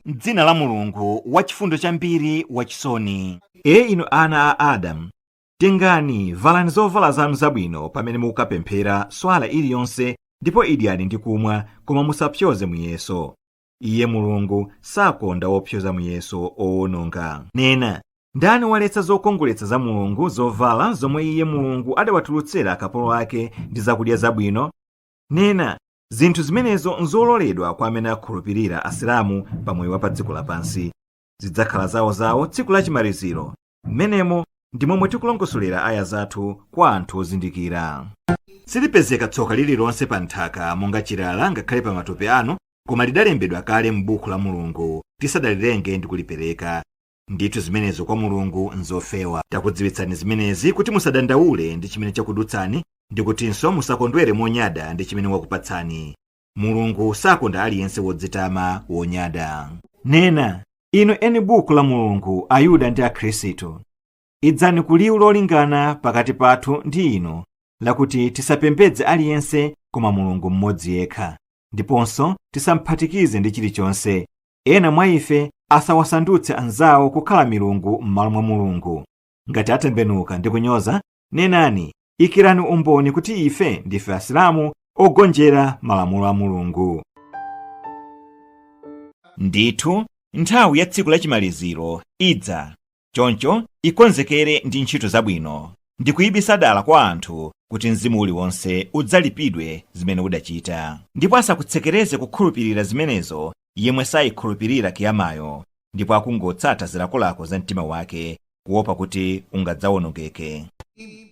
m'dzina la Mulungu wachifundo chambiri wachisoni. E inu ana a Adamu, tengani, valani zovala zanu zabwino pamene mukukapemphera swala iliyonse ndipo idyani ndi kumwa, koma musapsyoze muyeso. Iye Mulungu sakonda opsyoza muyeso owononga. Nena, ndani waletsa zokongoletsa za Mulungu, zovala zomwe Iye Mulungu adawatulutsira akapolo ake ndi zakudya zabwino? Nena, Zinthu zimenezo nzololedwa kwa amene akhulupirira, Asilamu, pa moyo wa pa dziko lapansi. Zidzakhala zawo zawo tsiku lachimaliziro. Mmenemo ndi momwe tikulongosolera aya zathu kwa anthu ozindikira. Silipezeka tsoka lililonse pa nthaka monga chilala ngakhale pa matupi anu koma lidalembedwa kale m'buku la Mulungu tisadalilenge ndi kulipereka. Ndithu zimenezo kwa Mulungu nzofewa. Takudziwitsani zimenezi kuti musadandaule ndi chimene chakudutsani ndi kutinso musakondwere monyada ndi chimene wakupatsani. Mulungu sakonda aliyense wodzitama, wonyada. Nena, Inu eni Buku la Mulungu, Ayuda ndi Akhristu, Idzani ku liwu lolingana pakati pathu ndi inu lakuti tisapembedze aliyense koma Mulungu mmodzi yekha, ndiponso tisamphatikize ndi chilichonse. Ena mwa ife asawasandutse anzawo kukhala milungu m'malo mwa Mulungu. Ngati atembenuka ndi kunyoza, nenani, ikirani umboni kuti ife ndife Asilamu ogonjera malamulo a Mulungu. Ndithu, nthawi ya tsiku lachimaliziro idza. choncho ikonzekere ndi ntchito zabwino ndikuibisa dala kwa anthu kuti mzimu uliwonse udzalipidwe zimene udachita ndipo asakutsekereze kukhulupirira zimenezo yemwe sayikhulupirira kiyamayo ndipo akungotsata zilakolako za mtima wake kuopa kuti ungadzawonongeke